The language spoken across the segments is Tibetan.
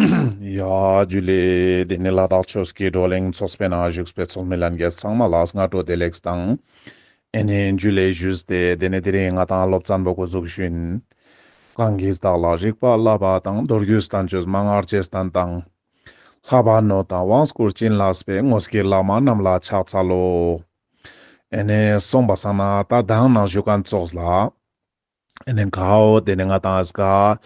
ཡ། རྒྱུད་ལས། དེ་ནས་ལ་དྭགས་ཆོས་ཀྱི་བགྲོ་གླེང་ཚོགས་པའི་ནང་བཞུགས་པའི་ཚོགས་མི་ལ་འགས་ཚང་མ་ལ་སྔ་དྲོ་བདེ་ལེགས་དང། ཨེ་ནས་རྒྱུད་ལས་བཞུས་ཏེ་དེ་ནས་དེ་རིང་ང་དང་སློབ་ཙམ་པོ་སྐུ་གཟུགས་ཞུན། གང་གིས་བདག་ལ་རིག་པ་བསླབ་པ་དང་མདོ་རྒྱུད་ཟླ་མཆོད་མ་སྔར་རྗེས་བསྟན་དང། ལྷག་པར་ནོར་དང་དབང་བསྐུར་བྱིན་རླབས་པའི་དངོས་ཀྱི་བླ་མ་རྣམས་ལ་ཕྱག་འཚལ་ལོ། ཨེ་ནས་གསུངས་པ་བསམ་ན་ད་གདངས་ནང་བཞུགས་མཁན་ཚོགས་ལ། ནས་གའོ། དེ་ནས་ང་དང་ཨཱས་ག།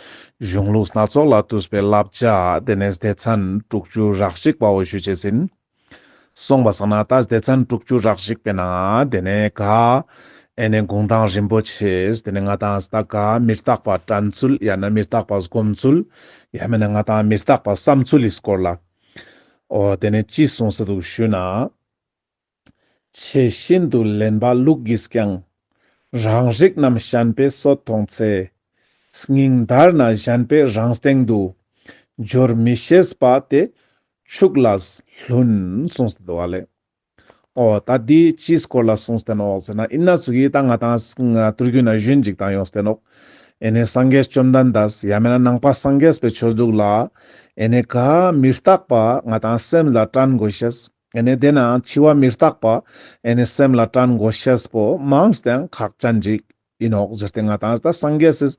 གཞུང་ལུགས་སྣ་ཚོགས་ལ་བསྟུད་པའི་བསླབ་བྱ། དེ་ནས་སྡེ་ཚན་དྲུག་ཅུ་རག་ཞིག་པའོ་ཞུ་བྱས་ཟིན། གསུངས་པ་སང་ན་ད་སྡེ་ཚན་དྲུག་ཅུ་རག་ཞིག་པས་ན། དེ་ནས་ག། ཨེ་ནས་དགུང་ཐང་རིན་པོ་ཆེས། དེ་ནས་ང་དང་ཨཱས་ད་ག། མི་རྟག་པ་དྲན་ཚུལ་ཡང་ན་མི་རྟག་པ་སྒོམ་ཚུལ། ཡང་མིན་ན་ང་དང་མི་རྟག་པ་བསམ་ཚུལ་ལིས་སྐོར་ལ། ཨོ། དེ་ནས་ཅི་གསུངས་ས་འདུག་ཞུས་ན། ཆེས་ཤིན་ཏུ་ལེན་པ་ལུག་གིས་ཀྱང། རང་རིགས་རྣམས་བཤན་པའི་སོ་མཐོང་ཚེ། སྙིང་འདར་ན་བཤན་པའི་རང་སྟེང་དུ། སྦྱོར་མི་ཤེས་པ་དེ་ཕྱུགས་ལ་ལྷུན། གསུངས་ཟིན་འདུག་བ་ལས། ཨོ། ད་འདི་ཅིའི་སྐོར་ལ་གསུངས་ཟིན་ཨོ་ཟེར་ན་ཨི་ན་ཟུ་གིས་ད་ང་དང་ཏུར་གུ་ན་གཞོན་འཇིག་དང་ཡོང་ཟིན་ཨོ། ཨེ་ནས་སངས་རྒྱས་བཅོམ་ལྡན་འདས་ཡ་མེད་ན་ནང་པ་སངས་རྒྱས་པའི་ཆོས་གཟུགས་ལ། ཨེ་ནས་ག། མི་རྟག་པ་ང་དང་སེམས་ལ་བཀྲལ་འགོ་ཤེས། ཨེ་ནས་དེ་ན་འཆི་བ་མི་རྟག་པ། ཨེ་ནས་སེམས་ལ་སྐྲན་མགོ་ཤེས་པོ། མང་སྟེང་ཁག་ཅན་འཇིག་ཡིན་འོག་གཞིར་དེ་ང་དང་ད་སངས་རྒྱས་སུ།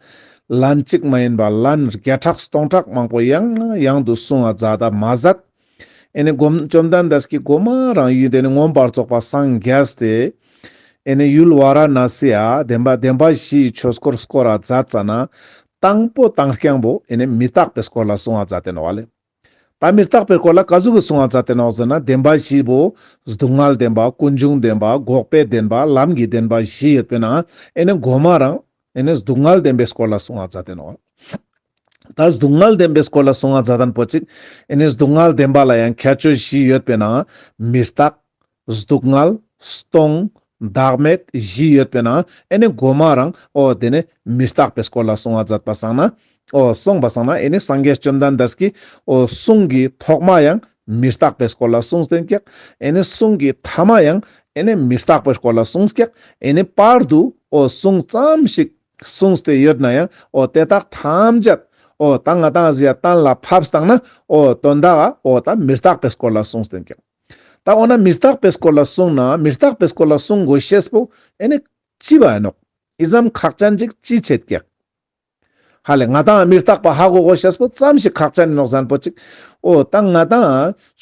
ལན་གཅིག་མ་ཡིན་པ་ལན་བརྒྱ་ཕྲག་སྟོང་ཕྲག་མང་པོ་ཡང་ཡང་དུ་གསུང་བ་རྫ་ད་མ་ཟད། ཨེ་ནས་བཅོམ་ལྡན་འདས་ཀྱི་སྒོ་མ་རང་ཡུལ་དེ་ནས་མངོན་པར་རྫོགས་པ་སངས་རྒྱས་ཏེ། ཨེ་ནས་ཡུལ་བ་ར་ན་སི་ཡ་བདེན་པ་བདེན་པ་བཞི་ཡི་ཆོས་སྐོར་སྐོར་ར་རྫ་རྩ་ན། དང་པོ་དང་རྐྱང་པོ་ཨེ་ནས་མི་རྟག་པའི་སྐོར་ལ་གསུང་བ་རྫ་དེ་ནོ་བ་ལས། པ་མིར་བཏགས་པའི་སྐོར་ལ་བཀའ་ཟུར་གྱི་གསུང་བ་རྩ་དེ་ནོག་ཟེར་ན་བདེན་པ་བཞི་པོ། སྡུག་བསྔལ་བདེན་པ་ཀུན་འབྱུང་བདེན་པ་འགོག་པའི་བདེན་པ་ལམ་གྱི་བདེན་པ་བཞི་ཡོད་པས་ན་ཨེ་ནི་མགོ་མ་རང། ཨེ་ནི་སྡུག་བསྔལ་བདེན་པའི་སྐོར་ལ་གསུང་བ་རྩ་དེ་ནོག། ད་སྡུག་བསྔལ་བདེན་པའི་སྐོར་ལ་གསུང་བ་རྩ་དང་པོ་གཅིག། ཨེ་ནི་སྡུག་བསྔལ་བདེན་པ་ལ་ཡང་ཁྱད་ཆོས་བཞི་ཡོད་པས་ན། མིར་བཏགས། གཟུགས་བསྔལ། སྟོང། བདག་མེད་བཞི་ཡོད་པས་ན་ཨེ་ནི་སྒོ་མ་རང་ཨོ་དེ་ནི་མི་རྟག་པའི་སྐོར་ལ་གསུང་བ་མཛད་པ་བསང་ན་ཨོ་གསུངས་པ་བསང་ན་ཨེ་ནི་སངས་རྒྱས་བཅོམ་ལྡན་འདས་ཀྱིས་ཨོ་གསུང་གི་ཐོག་མ་ཡང་མི་རྟག་པའི་སྐོར་ལ་གསུངས་ཟིན་ཀྱག་ཨེ་ནི་གསུང་གི་ཐ་མ་ཡང་ཨེ་ནི་མི་རྟག་པའི་སྐོར་ལ་གསུངས་ཀྱག་ཨེ་ནི་བར་དུ་ཨོ་གསུངས་ཙམ་ཞིག་གསུངས་ཏེ་ཡོད་ན་ཡང་ཨོ་དེ་དག་ཐམས་ཅད་ཨོ་དང་ང་དང་གཞན་དང་ལ་ཕབས་བསང་ན་ཨོ་དོན་དག་ཨོ་དང་མི་རྟག་པའི་སྐོར་ལ་གསུངས་ཟིན་ཀྱག། ད་འོ་ན་མི་རྟག་པའི་སྐོར་ལ་གསུངས་ན་མི་རྟག་པའི་སྐོར་ལ་གསུང་དགོས་ཤེས་པོ་ཨེ་ནི། ཅི་བ་ཨེ་ནོ། ཨི་ཟམ་ཁག་ཅན་ཅིག་ཅི་བྱེད་ཀྱི། ཧ་ལས་ང་དང་མི་རྟག་པ་ཧ་གོ་གོ་ཤེས་པོ་ཙམ་ཞིག་ཁག་ཅན་ནོག་ཟན་པོ་ཅིག་ཨོ་ད་ང་དང་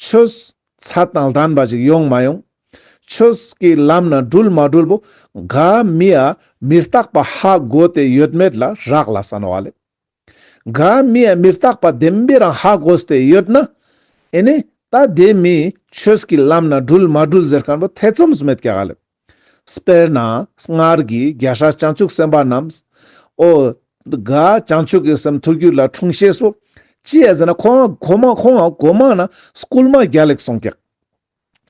ཆོས་ཚར་དང་ལྡན་པ་ཞིག་ཡོང་མ་ཡོང། ཆོས་ཀྱི་ལམ་ན་སྒྲུལ་མ་སྒྲུལ་པོ་ག་མི་ཨ་མི་རྟག་པ་ཧ་གོ་དེ་ཡོད་མེད་ལ་རག་ལ་བསམ་བ་ལས། འགའ་མི་ཡ་མི་རྟག་པ་བདེན་པའི་རང་ཧ་གོ་སྟེ་ཡོད་ན། ཨེ་ནས་ད་ལྟའི་མིས་ཆོས་ཀྱི་ལམ་ན་སྒྲུལ་མ་སྒྲུལ་ཟེར་མཁན་པོ་ཐེ་ཚོམ་ཟ་མེད་ཀྱི་ཧ་ལས། དཔེར་ན་སྔར་གྱི་རྒྱ་ཧྲ་བྱང་ཆུབ་སེམས་དཔའ་རྣམས། ཨོ་དགའ་བྱང་ཆུབ་ཀྱི་སེམས་ཐུགས་རྒྱུད་ལ་འཁྲུངས་ཤེས་སོ། ཅི་ཡ་ཟེར་ན་ཁོང་གོ་མ་ཁོང་གོ་མ་ན་སྐུལ་མ་རྒྱ་ལེགས་སོང་ཀྱག།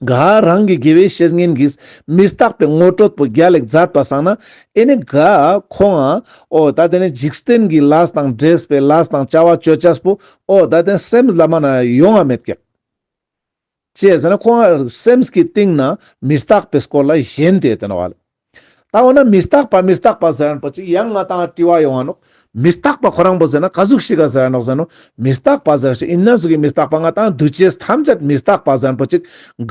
འགའ་རང་གི་དགེ་བའི་བཤེས་གཉེན་གྱིས་མི་རྟག་པའི་ངོ་སྤྲོད་པོ་བརྒྱ་ལེགས་མཛད་པ་བསགས་ན་ཨེ་ནི་འགའ་ཁོང་ཨ་ཨོ་ད་དེ་ནས་འཇིག་རྟེན་གྱི་ལཱས་དང་སྦྲེལ་པའི་ལཱས་དང་བྱ་བ་སྤྱོད་བྱས་པོ་ཨོ་ད་དེ་སེམས་ལ་མ་ན་ཡོང་བ་མེད་ཀྱི། ཅེས་ཟེར་ན་ཁོང་ཨ་སེམས་ཀྱི་སྟེང་ན་མི་རྟག་པའི་སྐོར་ལ་གཞན་དེ་དེ་ན་བ་ལ། ད་འོ་ན་མི་རྟག་པ་མི་རྟག་པ་ཟེར་པ་ཅིག་ཡང་ང་དང་དྲི་བ་ཡོང་བ་ནོ། མི་རྟག་པ་ཁོ་རང་པོ་ཟེར་ན་ག་གཟུགས་ཤིག་ག་ཟེར་ནོ་ཟེར་ནོ། མི་རྟག་པ་ཟེར་ཞིག་ཡིན་ན་གཟུགས་ཀྱི་མི་རྟག་པ་ང་དང་འདུ་བྱེད་ཐམས་ཅད་མི་རྟག་པ་ཟེར་པོ་ཅིག་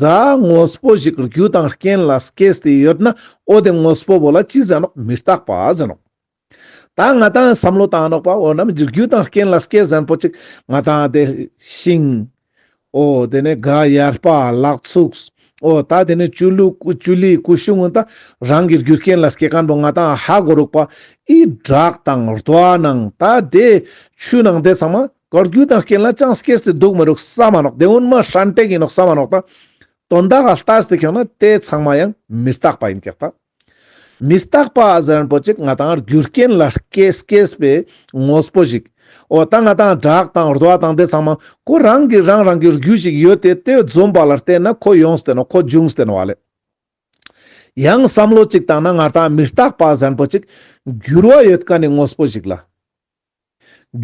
ག། དངོས་པོ་ཞིག་རྒྱུ་དང་རྐྱེན་ལ་སྐྱེ་སྟེ་ཡོད་ན་འོ་དེ་དངོས་པོ་བོ་ལ་ཅི་ཟེར་ནོ་མི་རྟག་པ་ཟེར་ནོ། ད་ང་དང་བསམ་བློ་བཏང་རོགས་པ་འོ་ནམ་འཇུག་རྒྱུ་དང་རྐྱེན་ལ་སྐད་གཟན་པོ་གཅིག་ང་དང་དེ་ཤིང། འོ་དེ་ནས་དགའ་ཡར་པ་ལགས་ཚུགས། འོ་ད་དེ་ནས་བཅུ་ལུ་བཅུ་ལི་སྐུ་གཞུང་ངོ་ད་རང་གི་རྒྱུ་རྐྱེན་ལ་སྐད་སྐམ་པོ་ང་དང་ཧ་གོ་རོགས་པ་ཨི་བསྒྲགས་དང་རྡོ་ཨ་ནང་ད་དེ་ཆུ་ནང་དེ་ཚང་མ་གར་རྒྱུ་དང་རྐྱེན་ལ་ཅང་སྐད་སྟེ་འདུག་མི་རུག་ས་མ་རོགས་དེ་དབུན་མ་ཧྲན་ཏེག་ཡིན་རོགས་ས་མ་རོགས་ད་དོན་དག་ལ་ལྟ་སྟེ་ཁྱོད་ན་དེ་ཚང་མ་ཡང་མི་རྟག་པ་ཡིན་ཀྱག་ད། མི་རྟག་པ་གཟེར་པོ་གཅིག་ང་དང་རྒྱུ་རྐྱེན་ལ་སྐྱེས་སྐྱེས་པའི་དངོས་པོ་ཞིག་འོ་ད་ང་དང་བྲག་དང་རྡོ་དང་དེ་ཚང་མ་ཁོ་རང་གི་རང་རང་གི་རྒྱུ་ཞིག་ཡོད་དེ་དེ་འཛོམས་པ་ལ་བལྟས་ན་ཁོ་ཡོངས་བསྟེན་ཁོ་འབྱུང་བསྟེན་བ་ལས། ཡང་བསམ་བློ་གཅིག་བཏང་ན་ང་དང་མི་རྟག་པ་གཟེར་པོ་གཅིག་འགྱུར་བ་ཡོད་ཀ་ནི་དངོས་པོ་ཞིག་ལ།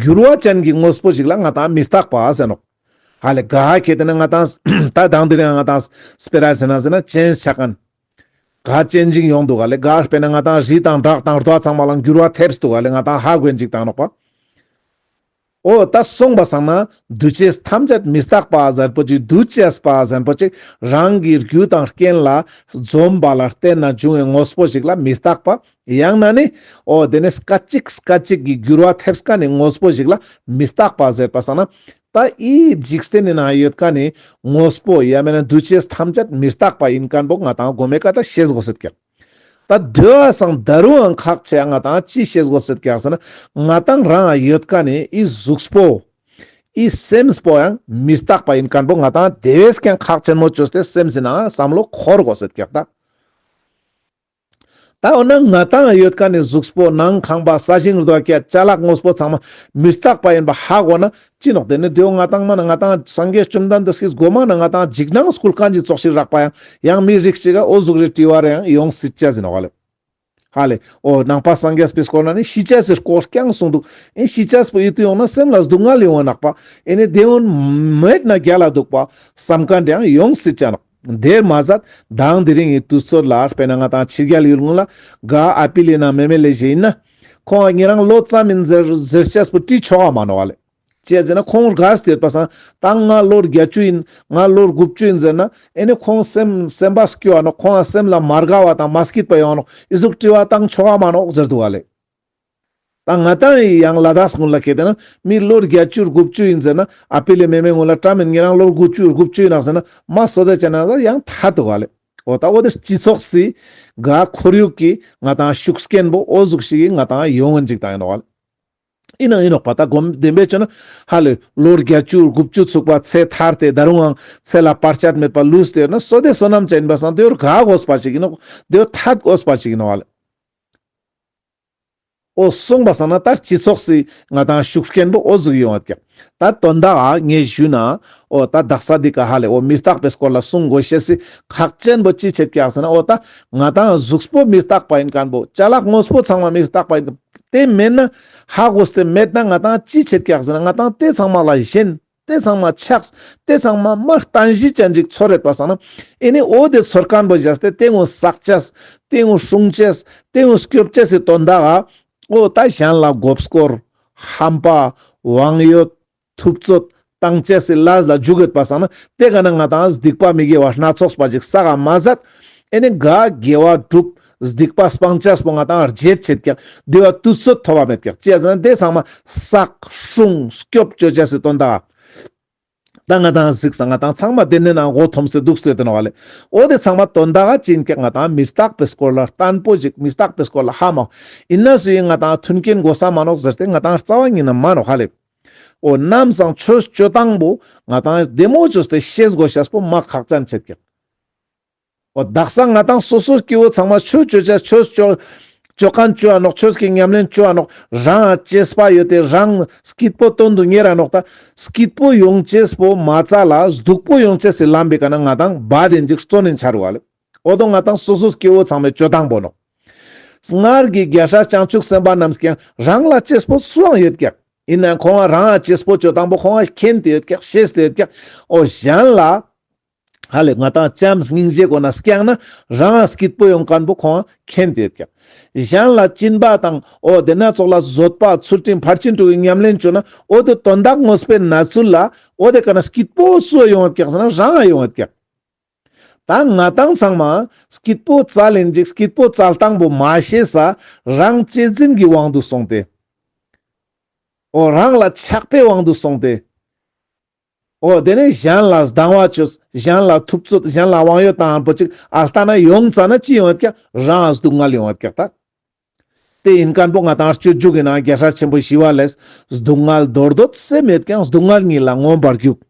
འགྱུར་བ་ཅན་གྱི་དངོས་པོ་ཞིག་ལ་མངའ་ཐང་མི་རྟག་པ་ཟེར་ནོ། ཧ་ལས་ག་ཧ་གྱེས་དེ་ནི་མངའ་ཐང། ད་གདངས་འདི་རིང་མངའ་ཐང། སྤེ་ར་ཟེར་ན་ཟེར་ན་ཅན་ཤ་ཀན། ག་ཅན་འཇིག་ཡོང་འདུག་ཧ་ལས་ག་སྤེ་ན་མངའ་ཐང་བཞི་དང་བྲག་དང་རྡོ་ཚང་མ་ལ་འགྱུར་བ་ཐེབས་འདུག་ཧ་ལས་མངའ་ཐང་ཧ་གོས་འཇིག་དང་ནོག་པ། ཨོ་ད་གསུངས་པ་བསམ་ན་འདུ་བྱེད་ཐམས་ཅད་མི་རྟག་པ་ཟེར་པོ་ཅིག་འདུ་བྱེད་པ་ཟེར་པོ་ཅིག་རང་གི་རྒྱུ་དང་རྐྱེན་ལ་འཛོམས་པ་ལ་བརྟེན་ན་འབྱུང་བའི་དངོས་པོ་ཞིག་ལ་མི་རྟག་པ་ཡང་ན་ནི། ཨོ་དེ་ནས་སྐད་ཅིག་སྐད་ཅིག་གིས་འགྱུར་བ་ཐེབས་སྐད་ནི་དངོས་པོ་ཞིག་ལ་མི་རྟག་པ་ཟེར་བ་ས་ན། ད་ཨི་འཇིག་རྟེན་ནི་ན་ཡོད་སྐད་ནི་དངོས་པོ་ཡ་མེད་ན་འདུ་བྱེད་ཐམས་ཅད་མི་རྟག་པ་ཡིན་སྐད་འབོག་ང་དང་སྒོ་མེད་སྐད་ད་ཤེས་དགོ་སྲིད་སྐད། ད་སྡོད་ཨ་སང་ད་རུའང་ཁག་ཆེ་ཡ་ང་དང་ཅི་ཤེས་དགོ་སྲིད་སྐད་ཟེར་ན། ང་དང་རང་ཨ་ཡོད་སྐད་ནི་ཨི་གཟུགས་པོ། ཨི་སེམས་པོ་ཡང་མི་རྟག་པ་ཡིན་སྐད་འབོག་ང་དང་དེ་བས་ཀྱང་ཁག་ཆེན་མོ་བཅོས་ཏེ་སེམས་ཟིན་ན་བསམ་བློ་འཁོར་དགོ་སྲིད་སྐད་ད། ད་འོ་ན་ང་དང་ཡོད་ཀ་ནི་གཟུགས་པོ་ནང་ཁང་པ་ས་ཞིང་རྡོ་སྐྱ་བྱ་གླག་དངོས་པོ་ཚང་མ་མི་རྟག་པ་ཡིན་པ་ཧ་གོ་ན་ཅི་ནོག་དེ་ནི་དུས་འོ་ང་དང་མ་ན་ང་དང་སངས་རྒྱས་བཅོམ་ལྡན་འདས་སྐྱིད་སྒོ་མ་ན་ང་དང་འཇིགས་སྣང་སྐུ་ལྐང་གཅིག་ཙོག་ཞིག་རག་པ་ཡང་ཡང་མི་རིགས་གཅིག་ག་འོ་གཟུགས་རེ་བྲིས་བ་རེ་ཡང་ཡོང་སྲིད་ཅེས་ཟིན་ཧ་ལས་ཧ་ལས་འོ་ནང་པ་སངས་རྒྱས་པས་སྐོར་ན་ནི་ཤི་ཅེས་ཟེར་སྐོར་རྐྱང་གསུངས་འདུག་ཨེ་ཤི་ཅེས་པོ་ཡིད་དུ་ཡོང་ན་སེམས་ལ་སྡུག་བསྔལ་ཡོང་བ་ནག་པ་ཨེ་ནི་བདེན་བོན་མེད་ན་རྒྱ་ལ་སྡུག་པ་བསམ་ག་འདྲ་ཡང་ཡོང་སྲིད་ཅེས་ནོག། དེར་མ་ཟད་དང་དེ་རིང་གི་དུས་ཚོད་ལ་དཔེར་ན་ང་དང་ཕྱི་རྒྱལ་ཡུལ་དངོས་ལ་དགའ་ཨ་པི་ལི་ན་མེ་མེ་ལས་གཞན་ཡིན་ན། ཁོང་ངེད་རང་ལོ་ཙམ་མིན་ཟེར་ཟེར་ཆེས་པོ་བཀྲིས་ཆོ་ག་མ་ནོར་བ་ལས། ཅེས་ཟེར་ན་ཁོང་དགའ་ཟེར་ཡོད་པ་བསམ་ད་ང་ལོ་བརྒྱད་ཅུ་ཡིན་ང་ལོ་དགུ་བཅུ་ཡིན་ཟེར་ན་ཨེ་ནི་ཁོང་སེམས་སེམས་པ་སྐྱོ་བ་ནོ་ཁོང་སེམས་ལ་མ་དགའ་བ་དང་མ་སྐྱིད་པ་ཡོང་ནོ་ཨི་ཟུག་བཀྲིས་བ་བཏང་ཆོ་ག་མ་ནོག་ཟེར་འདུག་བ་ལས། ད་ང་ད་ཡི་ཡང་ལ་དྭགས་སྔོན་ལ་གས་དེ་ན་མི་ལོ་བརྒྱ་བཅུར་དགུ་བཅུ་ཡིན་ཟེར་ན་ཨ་ཕི་ལས་མེ་མེ་སྔོན་ལ་བཀྲ་མེད་ངེད་རང་ལོ་དགུ་བཅུ་དགུ་བཅུ་ཡིན་ནག་ཟེར་ན་མ་སོ་དད་བྱས་ན་ད་ཡང་ད་དུ་ག་ལས་འོ་ད་འོ་དེ་སྤྱི་ཚོགས་སི་ག་ཁོར་ཡུག་གི་ང་ད་ཤུགས་སྐན་པོ་ཨོ་གཟུགས་ཤིག་གི་ང་ད་ཡོ་ངན་ཅིག་ད་ཡིན་ནོག་ག་ལས་ཡིན་ནང་ཡིན་ནོག་པ་ད་སྒོམ་བདེན་པས་བྱོས་ན་ཧ་ལོས་ལོ་བརྒྱ་བཅུར་དགུ་བཅུ་ཚུགས་པ་ཚེ་ཐར་དེ་ད་རུང་འང་ཚེ་ལ་བར་ཆད་མེད་པ་ལུས་དེ་ཡོད་ན་སོ་དད་སོ་ནམ་ཅན་ཡིན་པ་སང་དེ་ཡོར་ག་གོ་སྤ་ཅིག་ཡིན་ནོག་དེ་ཡོ་ད་གོ་སྤ་ཅིག་ཡིན་ནོག་ག་ལས། ཨོ་གསུངས་པ་བསམ་ན་ད་སྤྱི་ཚོགས་སུ་ང་དང་ཤུགས་སྐྱེན་པོ་ཨོ་གཟུགས་ཡོང་བ་ཀྱང་ད་དོན་དག་ཨ་ངས་ཞུས་ན་ཨོ་ད་བདག་ས་འདི་ག་ཧ་ལས་ཨོ་མི་རྟག་པའི་སྐོར་ལ་གསུང་དགོས་བཤད་སྲིད་ཁག་ཅན་པོ་ཅི་བྱེད་བཀྱག་ཟེར་ན་ཨོ་ད་ང་དང་གཟུགས་པོ་མི་རྟག་པ་ཡིན་གང་པོ་བྱ་གླག་དངོས་པོ་ཚང་མ་མི་རྟག་པ་ཡིན་གང་དེ་མེད་ན་ཧ་གོ་སྟེ་མེད་ན་ང་དང་ཅི་བྱེད་བཀྱག་ཟེར་ན་ང་དང་དེ་ཚང་མ་ལ་གཞན། ཏེ་ཚང་མ་ཆགས། ཏེ་ཚང་མ་མ་བལྟ་གཞི་བཅའ་འཇིག་ཚོར་རེག་པ་བསགས་ན། ཨེ་ནི་འོ་དེ་ཚོར་སྐམ་པོ་བཞག་སྟེ་དེ་ངོ་བསགས་བྱས། དེ་ངོ་སྲུང་བྱས། དེ་ངོ་སྐྱོབ་བྱས་སི་དོན་དག། ཨོ་ད་གཞན་ལ་འགོ་བསྐོར། ཧམ་པ། དབང་ཡོད། ཐུབ་རྩོད། བཏང་བྱས་སི་ལ་ལ་འཇུག་ཡོད་པ་བསགས་ན། དེ་ག་ན་ང་དང་སྡིག་པ་མི་དགེ་བ་སྣ་ཚོགས་པ་ཅིག་བསགས་ཨ་མ་བསགས། ཨེ་ནི་འགའ། དགེ་བ་བསྒྲུབས། སྡིག་པ་སྤང་བྱ་སྤོང་བ་དང་རྗེས་བྱེད་ཀྱང་བདེ་བ་དུས་ཚོད་ཐོབ་པ་མེད་ཀྱང་སྐྱེ་ཟིན་དེ་ཚང་མ་བསགས། ཧྲུང། སྐྱོབ་བཅོལ་བྱ་སྲིད་དོན་དག། ད་ང་དང་གཟིགས་ས་ང་དང་ཚང་མ་དེ་ནས་ན་མགོ་འཐོམ་སྲིད་འདུག་སྲིད་དོན་བ་ལས་འོ་དེ་ཚང་མ་དོན་དག་ཅིན་ཀྱང་ང་དང་མི་རྟག་པའི་སྐོར་ལ་ལྟན་པོ་ཞིག་མི་རྟག་པའི་སྐོར་ལ་ཧ་མ་ཨོ་ཡིན་ན་སུ་ཡིན་ང་དང་མཐུན་རྐྱེན་མགོ་ས་མ་ནོག་ཟེར་ཏེ་ང་དང་རྩ་བ་ཉིད་ན་མ་ནོག་ཧ་ལས། ཨོ་ནམ་སང་ཆོས་སྤྱོད་དང་པོ་ང་དང་བདེ་མོ་བྱོས་ཏེ་ཤེས་དགོས་བྱ་སྤོ་མ་ཁག་ཅན་བྱེད་ཀྱང། བདག་སང་ང་དང་སོ་སོའི་སྐྱེ་བོ་ཚང་མ་ཆོས་སྤྱོད་བྱ་ཆོས་སྤྱོད། སྤྱོད་གང་སྤྱོད་ཨ་ནོག་ཆོས་ཀྱི་ཉམས་ལེན་སྤྱོད་ཨ་ནོག་རང་ཨ་ཅེས་པ་ཡོད་དེ་རང་སྐྱིད་པོ་དོན་དུ་གཉེར་ཨ་ནོག་ད་སྐྱིད་པོ་ཡོང་ཅེས་པོ་མ་རྩ་ལ་སྡུག་པོ་ཡོང་ཅེས་སི་ལམ་པའི་ཀ་ན་ང་དང་བ་དེ་འཇིག་གཙོ་ནས་འཆར་བ་ལ་ཨོ་དོ་ང་དང་སོ་སོའི་སྐྱེ་བོ་ཚང་མའི་སྤྱོད་དང་པོ་ནོག་སྔར་གྱི་རྒྱལ་སྲས་བྱང་ཆུབ་སེམས་དཔའ་རྣམས་ཀྱང་རང་ལ་ཅེས་པོ་སུའང་ཡོད་ཀྱང་ཡིན་ནའང་ཁོང་བ་རང་ཨ་ཅེས་པོ་སྤྱོད་དང་པོ་ཁོང་བ་མཁྱེན་དེ་ཡོད་ཀྱང་ཤེས་དེ་ཡོད་ཀྱང་ཨོ་གཞན་ལ་ཧ་ལས་ང་དང་ལྕམ་སྙིང་རྗེ་གོ་ན་སྐྱང་ན་རང་ཨ་སྐྱིད་པོ་ཡོང་དཀར་འབོ་ཁོང་མཁྱེན་དེ་སྐྱང་གཞན་ལ་བཅིན་པ་དང་ཨོ་དེ་སྣ་ཚོགས་ལ་བཟོད་པ་ཚུལ་ཁྲིམས་ཕར་ཕྱིན་དྲུག་གི་ཉམས་ལེན་བཅོས་ན་ཨོ་དེ་དོན་དག་དངོས་སྤེལ་ན་ཚུལ་ལ་ཨོ་དེ་ག་ན་སྐྱིད་པོ་སུ་ཡོང་ཨ་སྐྱག་ཟེར་ན་རང་ཨ་ཡོང་ཨ་སྐྱག། ད་ང་དང་ཚང་མ་སྐྱིད་པོ་རྩ་ལེན་ཅིག་སྐྱིད་པོ་རྩ་སྟངས་པོ་མ་ཤེས་ས་རང་གཅེས་འཛིན་གྱི་དབང་དུ་སོང་སྟེ་ཨོ་རང་ལ་ཆགས་པའི་དབང་དུ་སོང་སྟེ། ཨོ་དེ་ནས་གཞན་ལ་སྡང་བ་བྱོས་གཞན་ལ་ཐུབ་ཚོད་གཞན་ལ་དབང་ཡོད་དང་པོ་གཅིག་ཨ་ལྟ་ན་ཡོང་རྩ་ན་ཅི་ཡོང་བའི་ཀྱག་རང་ཨ་སྡུག་བསྔལ་ཡོང་བའི་ཀྱག་ལྟ། དེ་ཡིན་ཀན་པོ་ང་དང་སྤྱོད་འཇུག་གི་ནང་རྒྱལ་ཧྲལ་ཆེན་པོ་ཞི་བ་ལས་སྡུག་བསྔལ་རྡོར་འདོད་སེམས་ཡོད་ཀྱང་སྡུག་བསྔལ་ཉིད་ལ་མངོན་པར་རྒྱུག།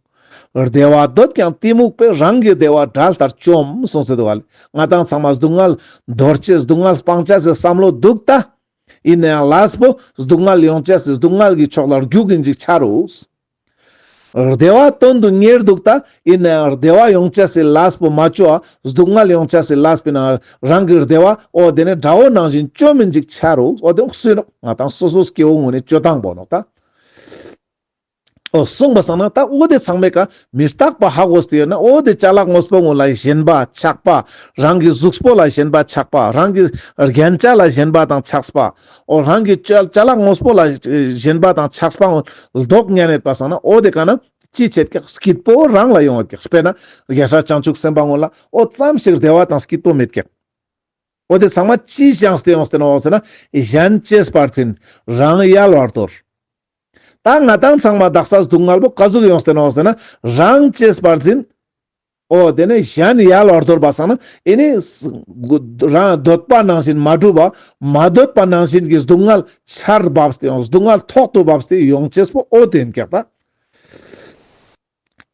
བདེ་བ་འདོད་ཀྱང་གཏི་མུག་པས་རང་གི་བདེ་བ་དགྲ་ལྟར་བཅོམ་གསུངས་སོད་བ་ལས་ང་དང་ཚང་མ་སྡུག་བསྔལ་རྡོར་བྱས་སྡུག་བསྔལ་སྤང་བྱ་ཟེར་བསམ་བློ་སྡུག་ལྟ། ཡིན་ན་ཡང་ལས་པོ་སྡུག་བསྔལ་ཡོང་བྱས་སེ་སྡུག་བསྔལ་གྱི་ཕྱོགས་ལ་རྒྱུག་གི་འཇུག་བྱ་རུས། བདེ་བ་དོན་དུ་གཉེར་འདུག་ད་ཡིན་ནའི་བདེ་བ་ཡོང་བྱ་སྲིད་ལགས་པོ་མ་བཅོས་ཨ་སྡུག་བསྔལ་ཡོང་བྱ་སྲིད་ལགས་པོ་ན་རང་གི་བདེ་བ་འོ་དེ་ནི་དགྲ་བོ་ནང་བཞིན་བཅོས་མི་འཇིག་བྱ་རུ་འོ་དེ་སུས་ན་ང་དང་སོ་སོའི་སྐྱེ་བོ་དངོས་ནས་བཅོས་དང་པོ་ནོ་ད། འོ་གསུངས་པ་སང་ན་ད་འོ་དེ་ཚང་མས་ཀ་མི་རྟག་པ་ཧ་གོ་སྟེ་ཡོད་ན་འོ་དེ་བྱ་ལག་ངོས་པོ་དངོས་ལ་ཞེན་པ་ཆགས་པ་རང་གི་གཟུགས་པོ་ལ་ཞེན་པ་ཆགས་པ་རང་གི་རྒྱན་ཆ་ལ་ཞེན་པ་དང་ཆགས་པ་ཨོ་རང་གི་ལྕགས་ལ་ངོ་སྤོ་ལ་བཞེན་པ་དང་ཆགས་སྤང་ལྡོག་ཉལ་མེད་པ་སང་ན་ཨོ་དེ་ག་ན་ཅི་བྱེད་ཀྱི་སྐྱིད་པོ་རང་ལ་ཡོང་བ་ཀྱི་དཔེར་ན་རྒྱལ་ཧྲལ་བྱང་ཆུབ་སེམས་དཔའ་ངོ་ལ་ཨོ་ཙམ་ཞིག་བདེ་བ་དང་སྐྱིད་པོ་མེད་ཀྱི་ཨོ་དེ་ཚང་མ་ཅི་བྱང་སྟེ་ཡོང་སྟེ་ན་བ་ཟེར་ན་གཞན་སྐྱེས་བར་ཚིན་རང་ཡལ་བར་དོར། ད་ང་དང་ཚང་མ་བདག་ས་སྡུག་བསྔལ་པོ་ག་ཟུག་ཡོང་སྟེ་ན་བ་ཟེར་ན་རང་སྐྱེས་བར་ཚིན། ཨོ་དེ་ནས་གཞན་ཡལ་བར་དོར་བ་སང་ན་ཨེ་ནི། རང་གདོད་པ་ནང་བཞིན་མ་གྲུབ་བ། མ་གདོད་པ་ནང་བཞིན་གྱི་སྡུག་བསྔལ་ཆར་བབས་ཏེ་སྡུག་བསྔལ་ཐོག་ཏུ་བབས་ཏེ་ཡོངས་སྐྱེས་པོ་ཨོ་དེ་འགེགས་པ།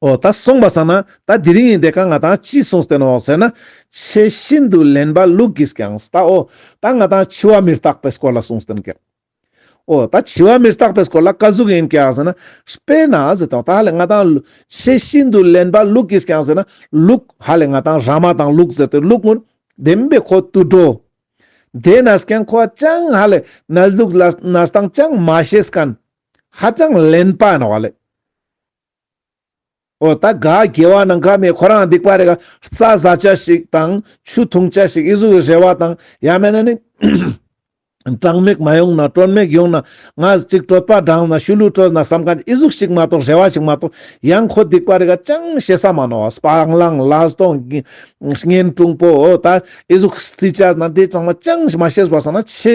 ཨོ་ད་གསུངས་པ་སང་ན་ད་དེ་རིང་ཡིན་ཏེ་གང་ང་དང་ཅིས་གསུངས་བསྟན་ནོ་ཟེར་ན། ཆེས་ཤིན་ཏུ་ལན་པ་ལུགས་ཀྱིས་ཀྱང་ད་ཨོ་ད་ང་དང་འཆི་བ་མི་རྟག་པའི་སྐོར་ལ་གསུངས་བསྟན་གེགས། ཨོ། ད་བྱི་བ་མི་རྟག་པའི་སྐོར་ལ་བཀའ་ཟུག་ཡིན་ཀྱང་ཟེར་ན། དཔེ་ན་ཟེར་དང་ད་ལས་ང་དང། ཆེས་ཤིན་ཏུ་ལེན་པ་ལུག་གིས་ཀྱང་ཟེར་ན། ལུག། ཧ་ལས་ང་དང་ར་མ་དང་ལུག་ཟེར་ཏེ་ལུག་སྔོན། བདེན་པའི་ཁོ་ཏུ་འགྲོ། དེས་ན་ཟེར་ཀྱང་ཁོ་བ་ཅང་ཧ་ལས་ན་ལུག་ལ་ན་སྟངས་ཅང་མ་ཤེས་སྐན། ཧ་ཅང་ལེན་པ་ན་བ་ལས། ཨོ་ད་ག་རྒྱལ་བ་ནང་ཁ་མེད་ཁོ་རང་སྡིག་པ་རེད་ག་རྩྭ་བཟའ་བཅའ་ཞིག་དང་ཆུ་འཐུང་བཅའ་ཞིག་ཨི་གཟུགས་རེ་བ་དང་ཡ་མེད་ན་ནི་གྲངས་མེད་མ་ཡོང་ན་གྲོན་མེད་ཡོང་ན་ང་གཅིག་དྲོད་པ་འགྲངས་ན་ཤུལ་ལུས་སྤྲོད་ན་བསམ་ག་ཨི་གཟུགས་ཞིག་མ་གཏོགས་རེ་བ་ཞིག་མ་གཏོགས་ཡང་ཁོ་སྡིག་པ་རེད་ག་ཅང་བཤད་ས་མ་ནོ་སྤང་བླང་ལ་སྟོང་གཉེན་གྲུང་པོ་ཨོ་ད་ཨི་གཟུགས་རྩིས་བཅའ་ན་དེ་ཙང་མ་ཅང་མ་བཤད་བཟོ་བ་ས་ན་ཆེ་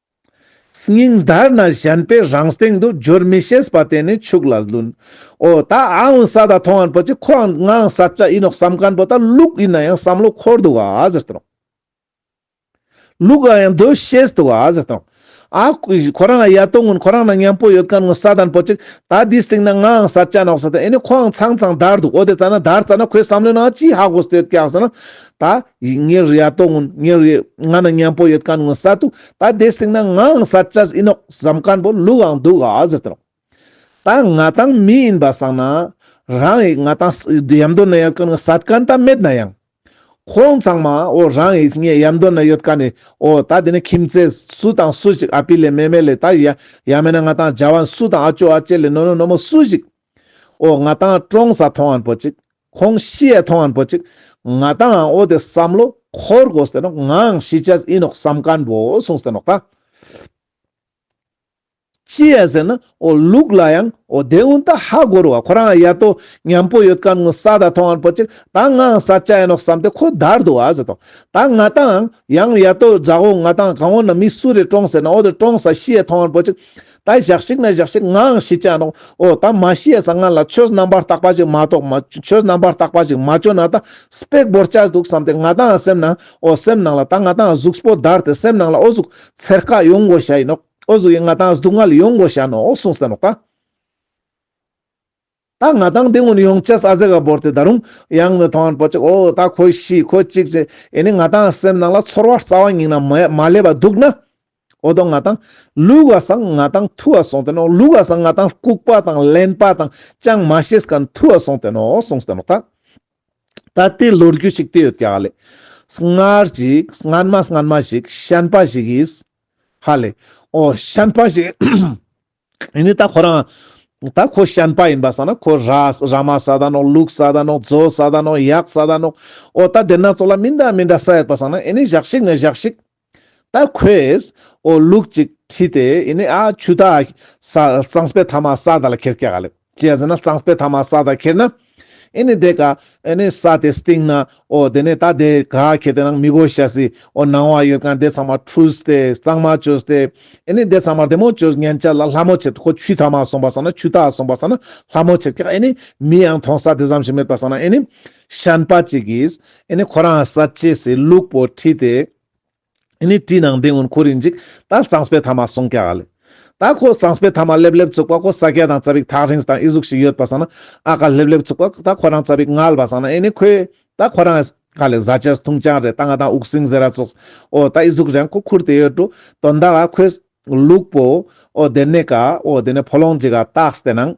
སྙིང་མདར་ན་གཞན་པའི་རང་སྟེང་དུ་སྦྱོར་མི་ཤེས་པ་དེ་ནི་ཕྱུགས་ལ་བླུན། འོ་ད་ཨང་ས་དང་ཐོ་ཨན་པོ་ཆེ་ཁོའང་དངངས་ས་ཅག་ཡིན་ནོ་བསམ་ག་ན་པོ་ད་ལུག་ཡིན་ན་ཡང་བསམ་བློ་འཁོར་འདུག་ཨ་ཟེར་དང། ལུག་ག་ཡང་འདོད་ཤེས་འདུག་ཨ་ཟེར་དང། ཨ། ཁོ་རང་ཨ་ཡ་ཏོ་ངོ་ཁོ་རང་ན་མཉམ་པོ་ཡོད་ག་ན་ངོ་ས་དང་པོ་ཆེ་ད་འདིའི་སྟེང་ན་དངངས་ས་ཅག་ནོག་ས་དང་ཨེ་ནས་ཁོའང་ཚང་ཚང་འདར་འདུག་འོ་དེ་ཙ་ན་འདར་ཙ་ན་ཁོའི་བསམ་བློའི་ནང་ཅི་ཧ་གོ་ས་དེ་ཡོད་ཀྱི་ཨང་ས་ན། ད། ཡིག་ངེས་རེད་ཡ་ཏོག་ངོ་ངེས་རེད་ང་ནི་གཉན་པོ་ཡོད་ག་ངོ་ས་ཏུ་ད་དེ་སྟེང་ན་ངའང་ས་ཆ་ཟིན་ཨོ་བཟའ་མཁན་པོ་ལུག་འང་འདུག་ཨ་ཟེར་ཏོ། ད་ང་དང་མི་ཡིན་པ་བསམ་ན་རང་ཡིག་ང་དང་ཡི་ཡ་མདོ་ན་ཡོད་ག་ངོ་ས་གན་ད་མེད་ན་ཡང། ཁོང་ཚང་མ་ཨོ་རང་ཡིག་ངས་ཡ་མདོ་ན་ཡོད་ག་ནི་ཨོ་ད་དེ་ནི་ཁྱིམ་ཚེ་སུ་དང་སུ་ཞིག་ཨ་ཕི་ལས་མེ་མེ་ལས་ད་ཡ་ཡ་མེད་ན་ང་དང་རྒྱ་བ་སུ་དང་ཨ་ཅོ་ཨ་ཅེ་ལས་ནོ་ནོ་ནོ་མོ་སུ་ཞིག་ཨོ་ང་དང་ཀྲོང་ས་ཐོང་ཨན་པོ་ཅིག་ཁོང་གཤིས་ཡས་ཐོང་ཨན་པོ་ཅིག་ང་ཏང་ཨང་ཨོ་དེ་བསམ་བློ་འཁོར་དགོས་སྟེ་ནོག་ངའང་གཤིས་ཅཱས་ཨིན་ནོག་བསམ་ཀན་པོ་སོང་སྟེ་ནོག་ཏང་གཤིས་ཡས་ཟེར་ན་ཨོ་ལུག་ལ་ཡང་ཨོ་དེ་འུན་ཏ་ཧ་གོ་རུ་བ་ཁོ་རང་ཡ་ཏོ་ཉམས་པོ་ཡོད་ཀན་ངུ་ས་ད་ཐོང་ཨན་པོ་ཅིག་ད་ངའང་ས་ཅཱ་ཡས་ནོག་བསམ་སྟེ་ཁོ་དར་དུ་བ་ཟེར་ཏོ་ད་ང་ཏང་ཨང་ཡང་ཡ་ཏོ་རྫ་ཧོ་ང་ཏང་ཨང་ཨོ་ན་མི་སུ་རེ་ཀྲོང་ཟེར་ན་ཨོ་དེ་ཀྲོང་ས་གཤིས་ཡས་ཐོང་ཨན་པོ་ཅིག་ད་བཞག་ཤིག་ན་བཞག་ཤིག་ངའང་ཤེས་ཀྱི་མདོག་ཨོ་ད་མ་ཤེས་ས་ང་ལ་ཆོས་རྣམ་པར་བརྟག་པ་ཞིག་མ་གཏོགས་ཆོས་རྣམ་པར་བརྟག་པ་ཞིག་མ་བྱོས་ན་ད་སྤེགས་བོར་བཅའ་འདུག་བསམ་སྟེ་ང་དང་སེམས་ནང་ཨོ་སེམས་ནང་ལ་ད་ང་དང་གཟུགས་པོ་བརྡར་ཏེ་སེམས་ནང་ལ་ཨོ་གཟུགས་ཚེར་ཁ་ཡོང་དགོས་ཤ་ཡིན་ནོ་ཨོ་གཟུགས་ཡིན་ང་དང་གཟུགས་ངལ་ཡོང་དགོས་ཤ་ནོ་ཨོ་གསུངས་སྟེ་ནོ་ད། ད་ང་དང་འདི་ངོ་ཡོང་ཆས་ཟ་ཟེ་ག་བོར་དེ་ད་རུང་ཡང་མི་མཐོང་བར་པོ་ཅིག་ཨོ་ད་ཁོ་ཤི་ཁོ་གཅིག་ཅེས་ཨེ་ནི་ང་དང་སེམས་ནང་ལ་ཚོར་བ་རྩ་བ་ཉིད་ན་མ་སླེབས་པ་འདུག་ན། ཨོ་ད་ང་དང་ལུས་ག་སང་ང་དང་ཐུ་བ་སོང་དེ་ནོ་ལུས་ག་སང་ང་དང་ལྐུག་པ་དང་ལན་པ་དང་ཅང་མ་ཤེས་ག་ཐུ་བ་སོང་དེ་ནོ་གསུངས་དེ་ནོ་ད། ད་དེ་ལོ་རྒྱུས་ཤིག་དེ་ཡོད་ཀྱི་ཧ་ལས། སྔར་གྱིས་སྔར་མ་སྔར་མ་ཞིག་ཤན་པ་ཞིག་གིས། ཧ་ལས། ཨོ་ཤན་པ་ཞིག། ཡིན་ནི་ད་ཁོ་རང་ད་ཁོ་ཤན་པ་ཡིན་པ་བསམ་ན་ཁོ་ར་ར་མ་ས་དང་ནོག་ལུག་ས་དང་ནོག་རྫོ་ས་དང་ནོག་ཡག་ས་དང་ནོག་ཨོ་ད་དེ་སྣ་ཚོགས་ལ་མི་འདྲ་མི་འདྲ་ས་ཡོད་པ་བསམ་ན་ཡིན་ནི་བཞག་ཤིག་མི་བཞག་ཤིག་ད་ཁོས་ཨོ་ལུག་ཅིག་ཁྲིད་དེ་ཡིན་ནི་ཨ་ཆུ་ད་ས་གཙང་སྤེ་ཐ་མ་ས་ད་ལ་ཁེར་སྐྱ་ག་ལེ། བྱས་ཟིན་ན་གཙང་སྤེལ་ཐ་མ་ས་དང་ཁེར་ན། ཨེ་ནི་དེ་ག། ཨེ་ནི་ས་དེ་སྟེང་ན། ཨོ་དེ་ནས་ད་དེ་ག་ཁེར་དེ་ནང་མི་གོ་ཤ་སི། ཨོ་ནང་བ་ཡོད་གང་དེ་ཚང་མ་ཁྲུས་ཏེ་གཙང་མ་བྱོས་ཏེ། ཨེ་ནི་དེ་ཚང་མར་དེ་མོ་བྱོས་ངན་ཅག་ལ་ལྷ་མོ་བྱེད་ཁོ་ཆུས་ཐ་མ་སོང་པ་ས་ན་ཆུ་དག་སོང་པ་ས་ན་ལྷ་མོ་བྱེད་ཀྱག་ཨེ་ནི་མི་ཡང་ཐོང་ས་དེ་ཙམ་ཞིག་མེད་པ་ས་ན་ཨེ་ནི། ཤན་པ་ཅིག་གིས། ཨེ་ནི་ཁོ་རང་ས་བཅས་སི་ལུག་པོ་ཁྲིད་དེ། ཨེ་ནི་བཀྲིས་ནང་བསྟན་ཨོན་ཁོ་རིག་འཇིག་ད་གཙང་སྤེལ་ཐ་མ་སོང་ཀ་ག་ལེ། ད་ཁོ་གཙང་སྤེལ་ཐ་མ་ལེབ་ལེབ་ཚུགས་པ་ཁོ་ས་སྐྱ་དང་རྩ་བིག་ཐག་རིངས་དང་ཨི་གཟུགས་ཤིག་ཡོད་པ་སང་ན་ཨ་ཀ་ལེབ་ལེབ་ཚུགས་པ་ད་ཁོ་རང་རྩ་བིག་མངལ་བ་སང་ན་ཨེ་ནི་ཁོའི་ད་ཁོ་རང་ཨེས་ག་ལེ་བཟའ་བཅས་ཐུང་ཅང་རེད་ད་ང་དང་འུག་སིང་ཟེ་ར་ཚོགས་ཨོ་ད་ཨི་གཟུགས་རེང་ཁོ་ཁུར་དེ་ཡོད་འགྲོ་དོ་ད་ཨ་ཁོའི་ལུག་པོ་ཨོ་དེ་ནས་ཀ་ཨོ་དེ་ནས་ཕོ་ལོང་འཇིག་ཨ་ཏགས་དེ་ནང་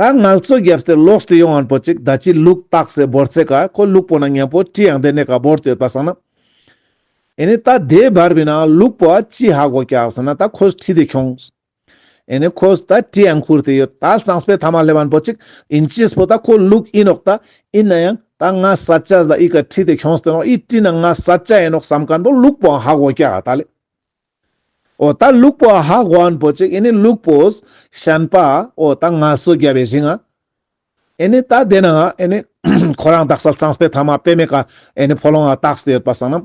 ད་ངལ་རྩོལ་རྒྱབ་རྟེན་ལོགས་སུ་ཡོང་བར་འབོད་ཅིག་ད་ཅིའི་ལུགས་བཏགས་ཟེར་འབོར་ཚེ་ག་ཁོ་ལུགས་པོ་ན་ངན་པོ་ཅི་ཡང་དེ་ནས་ག་འབོར་དུ་ཡོད་པ་བསམ་ན། ཨེ་ནས་ད་དེ་བར་བས་ན་ལུགས་པོ་ཨ་ཅིས་ཧ་གོ་ཀྱག་ཟེར་ན་ད་ཁོས་ཁྲི་དེ་ཁྱོང། ཨེ་ནས་ཁོས་ད་ཁྲི་ཡང་ཁུར་དེ་ཡོད་ད་གཙང་སྤེལ་ཐ་མ་སླེབ་བར་འབོད་ཅིག་ཨིན་ཅིས་པོ་ད་ཁོ་ལུགས་ཨིན་རོགས་ད་ཨིན་ན་ཡང་ད་ང་ས་ཅ་ཟ་ཨི་ག་ཁྲི་དེ་ཁྱོང་ཟེར་ཏེ་ནོག་ཨི་བཀྲིས་ན་ང་ས་ཅ་ཡིན་རོགས་བསམ་ག་འདོག་ལུགས་པོ་ཨ་ཧ་གོ་ཀྱག་ཨ་ད་ལས། ཨོ་ད་ལུག་པོ་ཨ་ཧ་དབོན་པོ་ཅིག་ཨེ་ནི་ལུག་པོས་བཤན་པ་ཨོ་ད་ང་སུ་རྒྱལ་བའི་བཞིན་ཨ་ཨེ་ནི་ད་དེ་ན་ཨ་ཨེ་ནི་ཁོ་རང་དག་སལ་ཚངས་པའི་ཐ་མ་པད་མའི་ཀ་ཨེ་ནི་ཕོ་ལོང་ཨ་ཏག་སྟེ་ཡོད་པ་སང་ནམ་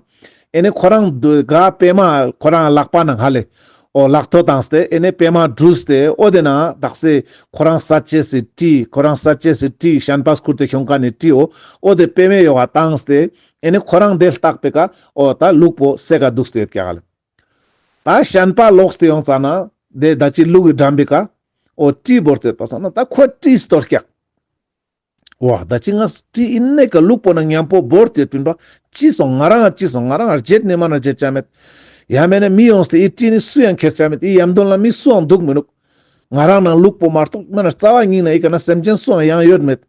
ཨེ་ནི་ཁོ་རང་དུ་ག་པད་མ་ཁོ་རང་ཨ་ལག་པ་ན་ཧ་ལེ་ཨོ་ལག་ཐོ་དང་སྟེ་ཨེ་ནི་པད་མ་འབྲུ་སྟེ་ཨོ་དེ་ན་ཨ་དག་སེ་ཁོ་རང་ས་བཅད་སི་ཏྲི་ཁོ་རང་ས་བཅད་སི་ཏྲི་བཤན་པ་སྐུར་དེ་ཤོང་ཀ་ནི་ཏྲི་ཨོ་ཨོ་དེ་པད་མའི་ཡོ་བ་དང་སྟེ་ཨེ་ནི་ཁོ་རང་འདེད་བརྟག་པའི་ཀ་ཨོ་ད་ལུག་པོ་སེ་ག་འདུག་སྟེ་ཀྱག་ལ་ད་ཞན་པ་ལོག་སྟེ་ཡོང་ཙ་ན་དེ་ད་ཅི་ལུག་གི་འགྲམ་པའི་ཀ་ཨོ་བཀྲིས་བོར་སྟེ་པ་ས་ན་ད་ཁོ་བཀྲིས་སུ་དོར་ཀྱག་ཨོ་ད་ཅི་ང་བཀྲིས་ཨི་ནས་ཀ་ལུག་པོ་ན་ཉམས་པོ་བོར་སྟེ་བུན་པ་ཅི་སོང་ང་རང་ཨ་ཅི་སོང་ང་རང་ཨར་བརྗེད་ནས་མ་ན་བརྗེད་ཀྱ་མེད་ཡ་མེད་ན་མི་ཡོང་སྟེ་ཨི་བཀྲིས་ནི་སུ་ཡང་འཁྱེར་ཀྱ་མེད་ཨི་ཡམ་དོན་ལ་མི་སུའང་འདུག་མི་ནུག་ང་རང་ནང་ལུག་པོ་མ་རྟོག་མེད་ན་རྩ་བ་སྙིང་ན་ཨི་ཀ་ན་སེམས་ཅན་སུའང་ཡང་ཡོད་མེད།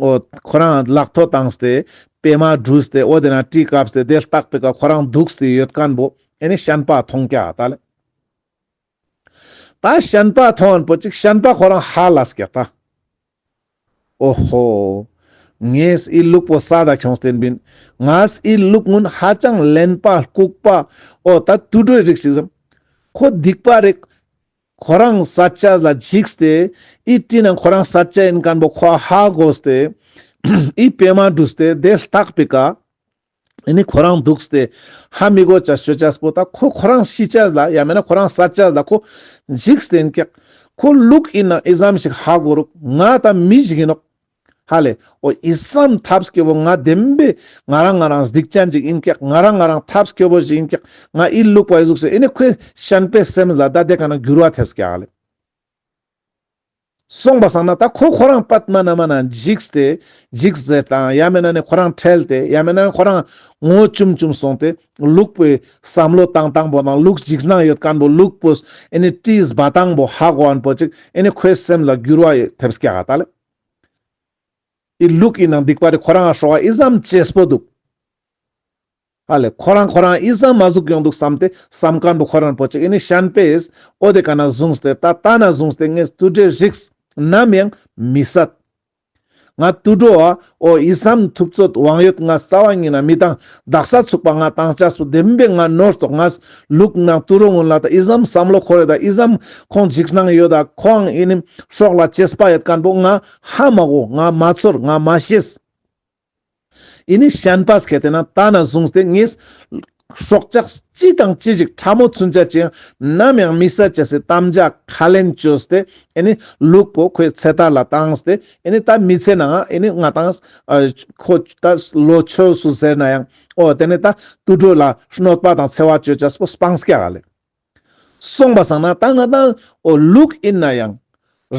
ཨོ། ཁོ་རང་གླག་ཐོ་བཏངས་ཏེ། པད་མ་བྲུས་ཏེ་ཨོ་དེ་རང་བཀྲིས་བཀབས་ཏེ་དེ་ལྟག་པའི་ཁར་ཁོ་རང་འདུག་ཏེ་ཡོད་ཀན་པོ། ཨེ་ནས་ཤན་པ་ཐོང་ཀ་ད་ལ། ད་ཤན་པ་ཐོང་པོ་ཅིག་ཤན་པ་ཁོ་རང་ཧ་ལ་སྐྱ་ད། ཨོ་ཧོ། ངས་ཨི་ལུག་པོ་ས་ད་ཁྱོངས་ཏེ་འབིན། ངས་ཨི་ལུག་སྔུན་ཧ་ཅང་ལན་པ་ལྐུག་པ། ཨོ་ད་དུད་འགྲོའི་རིགས་ཤིག་རེད། ཁོ་སྡིག་པ་རེད། ཁོ་རང་ས་སྐྱ་ལ་འཇིགས་ཏེ་ཨི་བཀྲིས་ན་ཁོ་རང་ས་སྐྱ་ཡིན་སྐམ་པོ་ཁོ་ཧ་གོས་ཏེ་ཨི་པད་མ་འདུགས་ཏེ་དེ་ལྟག་པའི་ཀ་ཨི་ནི་ཁོ་རང་འདུགས་ཏེ་ཧ་མི་གོས་ཅ་ཤོད་ཅ་སྤོ་ད་ཁོ་ཁོ་རང་ཤི་སྐྱ་ལ་ཡ་མེད་ན་ཁོ་རང་ས་སྐྱ་ལ་ཁོ་འཇིགས་ཏེ་ཨིན་ཀེག་ཁོ་ལུག་ཨིན་ན་ཨི་ཟམ་ཞིག་ཧ་གོ་རུག་ང་ད་མི་འཇིགས་ཨིན་རོགས། ཧ་ལས། ཨོ་ཨི་སམ་ཐབས་སྐྱོ་བོ་ང་བདེན་པས་ང་རང་ང་རང་སྡིག་ཅན་ཅིག་ཡིན་སྐད་ང་རང་ང་རང་ཐབས་སྐྱོ་བོ་ཞིག་ཡིན་སྐད་ང་ཨི་ལུག་པ་ཨི་གཟུགས་ཞིག་ཨི་ནི་ཁོས་གཞན་པའི་སེམས་ལ་ད་ལྟའི་ག་ན་འགྱུར་བ་ཐེབས་སྐད་ཧ་ལས། སོང་པ་བསམ་ན་ད་ཁོ་ཁོ་རང་པདྨ་ན་མ་ན་འཇིགས་ཏེ་འཇིགས་ཟེར་དང་ཡ་མེད་ན་ནི་ཁོ་རང་ཁྲེལ་ཏེ་ཡ་མེད་ན་ནི་ཁོ་རང་ངོ་བཅུམ་བཅུམ་སོང་སྟེ་ལུག་པོའི་བསམ་བློ་དང་དང་པོ་དང་ལུག་འཇིགས་སྣང་ཡོད་དཀར་པོ་ལུག་པོས་ཨི་ནི་བཀྲིས་བ་དང་པོ་ཧ་གོ་བ་པོ་ཅིག་ཨི་ནི་ཁོའི་སེམས་ལ་འགྱུར་བ་ཡོད་ཐེབས་སྐད་ཧ་ད་ལས། དེའི་ལུགས་ཀྱི་ནང་སྡིག་པ་དེ་ཁོ་རང་ལ་ཧྲོག་ཨི་བསམ་བཅས་སྤོ་འདུག། ཧ་ལས་ཁོ་རང་ཁོ་རང་ཨི་བསམ་མ་གཟུགས་ཡོང་འདུག་བསམ་སྟེ་བསམ་ག་འདུག་ཁོ་རང་སྤོ་ཅིག་ཨི་ནི་ཤན་པས་ཨོ་དེ་ག་ན་བཟུང་སྟེ་ད་ལྟ་ན་བཟུང་སྟེ་ངས་དུད་འགྲོའི་རིགས་ནམ་ཡང་མི་བསད། ང་དུད་འགྲོ་བ་ཨོ་ཨི་བསམ་ཐུབ་རྩོད་དབང་ཡོད་ང་རྩ་བ་ཉིད་ན་མི་དང་བདག་ས་ཚུགས་པ་ང་དྭངས་ཆ་སུ་ལྡེམ་པའི་ང་ནོར་དོགས་ང་ལུག་ནག་ཏུ་རུ་ངོ་ལ་ད་ཨི་ཟམ་བསམ་བློ་ཁོ་རེ་ད་ཨི་ཟམ་ཁོང་འཇིགས་སྣང་ཡོད་ད་ཁོའང་ཨི་ནི་ཤོག་ལ་ཅེས་པ་ཡད་དཀར་པོ་ང་ཧ་མ་གོ་ང་མ་ཚོར་ང་མ་ཤེས། ཨི་ནི་ཤན་པས་གལ་ཏེ་ན་ད་ན་བཟུང་སྟེ་ངས། སྲོག་ཆགས་ཅི་དང་ཅི་ཞིག་ཕྲ་མོ་ཚུན་ཆད་ཅི་ཡང་ནམ་ཡང་མི་ཟད་ཅེས་སའི་གཏམ་བརྒྱ་ཁ་ལན་བཅོས་སྟེ་ཨི་ནི་ལུག་པོ་ཁོའི་ཚེ་ཐར་ལ་བཏང་སྟེ་ཨི་ནི་ད་མི་ཚེ་ནའང་ཨི་ནི་ང་དང། ཁོ་ད་ལོ་ཆོས་སུ་ཟེར་ན་ཡང། ཨོ་དེ་ནས་ད་ཏུ་དྲོད་ལ་གནོད་པ་དང་འཚེ་བ་གཅོད་བྱ་སྤོ་སྤང་སྐྱ་ག་ལས་གསུངས་པ་སང་ན་ད་ང་དང་ཨོ་ལུགས་ཡིན་ན་ཡང།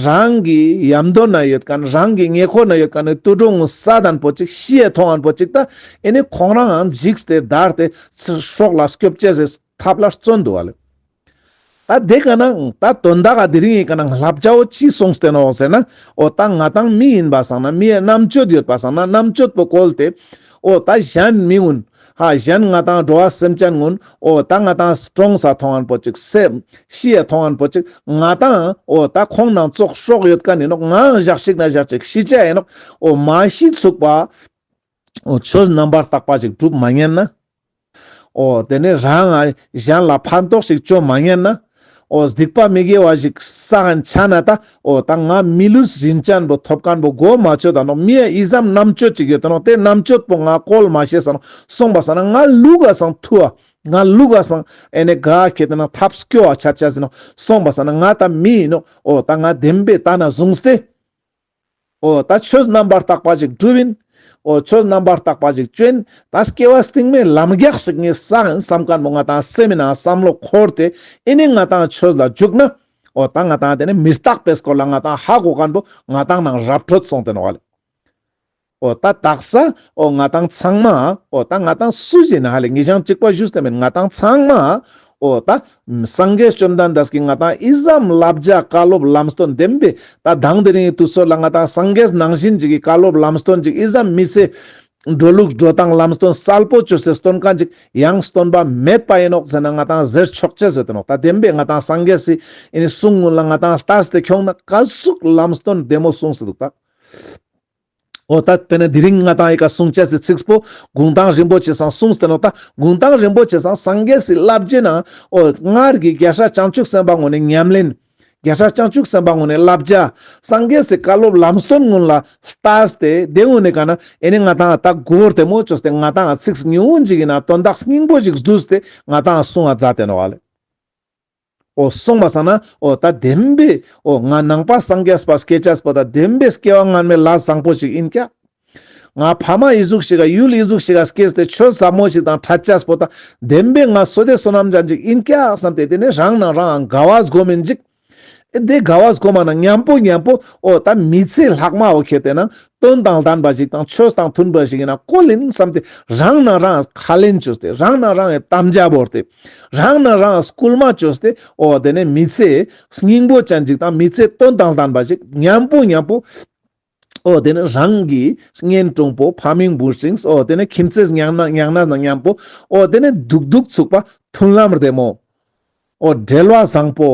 རང་གི་ཡམ་དོ་ན་ཡོད་གནས་རང་གི་ཉེ་འཁོར་ན་ཡོད་གནས་ཏུ་དྲོད་ངུ་ས་དང་པོ་ཅིག་ཤི་ཡས་ཐོ་ངན་པོ་ཅིག་ད་ཨེ་ནས་ཁོང་རང་འཇིགས་ཏེ་བདར་ཏེ་ཚེ་སྲོག་ལ་སྐྱོབ་བྱེད་ཟེར་ཐབས་ལ་བརྩོན་འདུག་ག་ལས། ད་དེ་ག་ན་འང་ད་དོན་དག་ག་དེ་རིང་ཡིན་ག་ན་འང་ལྷ་བྱ་བོ་ཅིས་སོང་བསྟན་འོག་ཟེར་ན་འོ་ད་ང་དང་མི་ཡིན་པ་སང་ན་མི་ཡས་རྣམ་དཔྱོད་ཡོད་པ་སང་ན་རྣམ་དཔྱོད་པོ་བཀོལ་ཏེ་འོ་ད་གཞན་མི་ངུན་ཧ་གཞན་ང་དང་འགྲོ་བ་སེམས་ཅན་ངུན་འོ་ད་ང་དང་གྲོང་ས་ཐོང་ཨན་པོ་ཅིག་སེ་ཤི་ཡས་ཐོང་ཨན་པོ་ཅིག་ང་དང་འོ་ད་ཁོང་ནང་ཙོག་ཤོག་ཡོད་ག་ནིན་ནོ་ང་འང་བཞག་ཤིག་ན་བཞག་ཅིག་ཤི་བྱ་ཡིན་ནོ་འོ་མ་ཤི་ཚུགས་པ་ཨོ། ཆོས་རྣམ་པར་བརྟགས་པ་ཞིག་གྲུབ་མ་རྙེད་ན། ཨོ། དེ་ནས་རང་ང་གཞན་ལ་ཕན་ཐོགས་ཤིག་སྤྱོད་མ་རྙེད་ན། ཨོ། སྡིག་པ་མི་དགེ་བ་ཞིག་བསགས་འཆའ་ན་ད། ཨོ། ད་ང་མི་ལུས་རིན་ཅན་པོ་ཐོབ་གང་པོ་སྒོ་མ་ཆོད་ད། མི་ཡི་ཡིད་བསམ་རྣམ་དཔྱོད་ཅིག་ཡོད་དོ། དེ་རྣམ་དཔྱོད་པོ་ང་གོལ་མ་བྱེད་ཟེར། གསུངས་པ་ཟེར་ན་ང་ལུས་ག་སང་ཐུ་བ། ང་ལུས་ག་སང་ཨེ་ནས་ག་ཁྱེད་དེ་ན་ཐབས་སྐྱོ་བ་བྱ་བྱ་ཟེར། གསུངས་པ་ཟེར་ན་ང་ད་མི་ཡིན་ནོ། ཨོ། ད་ང་བདེན་པའི་ད་ན་བཟུང་སྟེ། ཨོ་ད་ཆོས་རྣམ་པར་དག་པ་ཅིག་བསྒྲུབ་ཡིན། ཨོ་ཆོས་རྣམ་པར་དག་པ་ཅིག་སྤྱོད་ཡིན། ད་སྐྱེ་བ་སྟེང་མའི་ལམ་རྒྱགས་ཤིག་ངས་བསགས་ཡིན་བསམ་དཀར་མོ་ང་དང་བསྲེས་མིན་ནའང་བསམ་བློ་འཁོར་ཏེ་ཨེ་ནི་ང་དང་ཆོས་ལ་འཇུག་ན། ཨོ་ད་ང་དང་དེ་ནི་མི་རྟག་པས་སྐོར་ལ་ང་དང་ཧ་གོ་ག་འགྲོ་ང་དང་ནང་རབ་བྲོ་བཙོང་དེ་ནོ་བ་ལས། ཨོ་ད་དག་ས་ཨོ་ང་དང་ཚང་མ་ཨོ་ད་ང་དང་སུ་ཞིག་ན་ཧ་ལས་ངེས་ཤང་གཅིག་པ་བཞུགས་ས་མེད་ང་དང་ཚང་མ་ཨོ་ད། སངས་རྒྱས་བཅོམ་ལྡན་འདས་ཀྱིས་ང་དང་ཨི་ཟའམ་བསླབ་བྱ་བཀའ་སློབ་ལམ་སྟོན་འདེམས་པས་ད་གདངས་དེ་རིང་ཡི་དུས་སོགས་ལ་ང་དང་སངས་རྒྱས་ནང་བཞིན་ཅིག་གིས་བཀའ་སློབ་ལམ་སྟོན་ཅིག་ཨི་ཟའམ་མི་ཟེར། འགྲོ་ལུགས་འགྲོ་སྟངས་ལམ་སྟོན་གསལ་པོ་བཅོས་ཟེར་སྟོན་ག་ཅིག་ཡང་སྟོན་པ་མེད་པ་ཡིན་ནོག་ཟེར་ན་ང་དང་ཟེར་ཆོག་ཅེས་བཟོད་དོན་ཨོ་ད་འདེམས་པས་ང་དང་སངས་རྒྱས་སུ་ཡིན་གསུང་སྔོན་ལ་ང་དང་ལྟ་སྟེ་ཁྱོང་ན་བཀའ་ཟུག་ལམ་སྟོན་འདེམས་མོ་གསུངས་སུ་འདུག་ད། ཨོ་ད་པེ་ན་དེ་རིང་ང་དང་ཡི་ག་གསུང་བྱས་སའི་ཚིགས་པོ་དགུང་གྲངས་རིན་པོ་ཆེ་སང་གསུངས་སྟེ་ནོ་ད་དགུང་གྲངས་རིན་པོ་ཆེ་སང་སངས་རྒྱས་སི་བླ་བརྒྱད་ནང་ཨོ་སྔར་གྱི་རྒྱལ་སྲས་བྱང་ཆུབ་སེམས་དཔའ་ངོ་ནས་ཉམས་ལེན། རྒྱལ་སྲས་བྱང་ཆུབ་སེམས་དཔའ་ངོ་ནས་བླ་བརྒྱ། སངས་རྒྱས་སི་བཀའ་སློབ་ལམ་སྟོན་སྔོན་ལ་ལྟ་སྟེ་དེ་ངོ་ནས་ག་ན་ཨེ་ནས་ང་དང་ད་གོར་དེ་མོ་ཅོག་སྟེ་ང་དང་ཚིགས་ཉུང་ངུ་འཇིག་ཡིན་ན་དོན་དག་སྙིང་པོ་ཞིག་བསྡུས་སྟེ་ང་དང་གསུང་བ་རྫ་དེ་ནོ་བ་ལས། སོང་མ་སང་ན་ད་བདེན་པས་ང་ནང་པ་སངས་རྒྱས་པ་སྐད་ཆ་པོ་ད་བདེན་པས་སྐྱེ་བ་སྔར་མེད་ལ་བཟང་པོ་ཞིག་ཡིན་ཀྱ། ང་ཕ་མ་ཡི་གཟུགས་ཞིག་ཡུལ་ཡི་གཟུགས་ཞིག་སྐྱེས་ཏེ་ཆོས་ཟབ་མོ་ཞིག་དང་ཕྲད་ཀྱ་པོ་ད་བདེན་པས་ང་བསོད་བདེ་བསོད་ནམས་ཀྱ་འཇིག་ཡིན་ཀྱ་བསམ་སྟེ་དེ་ནས་རང་ནང་རང་དགའ་བ་བཟོ་མི་འཇིག། ཨེ་དེ་དགའ་བ་བཟོ་མ་ན་ཉམས་པོ་ཉམས་པོ་ད་མི་ཚེ་ལྷག་མ་བོ་ཁྱེད་དེ་ནང་དོན་དང་ལྡན་པ་ཞིག་དང་ཆོས་དང་མཐུན་པ་ཞིག་ཡིན་ན་ཀོ་ལིན་བསམ་སྟེ་རང་ནང་རང་ག་ལེན་བྱོས་ཏེ་རང་ནང་རང་གི་དམ་བཅའ་བོར་ཏེ། རང་ནི་རང་སྐུལ་མ་བཅོས་ཏེ་ཨོ་དེ་ནི་མི་ཚེའི་སྙིང་པོ་ཅན་ཅིག་དང་མི་ཚེའི་དོན་དང་ལྡན་པ་ཞིག་སྙམ་པོ་སྙམ་པོ། ཨོ་དེ་ནི་རང་གི་གཉེན་གྲོང་པོ་ཕ་མིང་འབུལ་ཞིང་ཨོ་དེ་ནི་ཁྱིམ་མཚེས་མྱང་ན་མྱང་ན་སྙམ་པོ། ཨོ་དེ་ནི་སྡུག་སྡུག་ཚུགས་པ་མཐུན་ལམ་རེ་མོ། ཨོ་བྲེལ་བ་བཟང་པོ།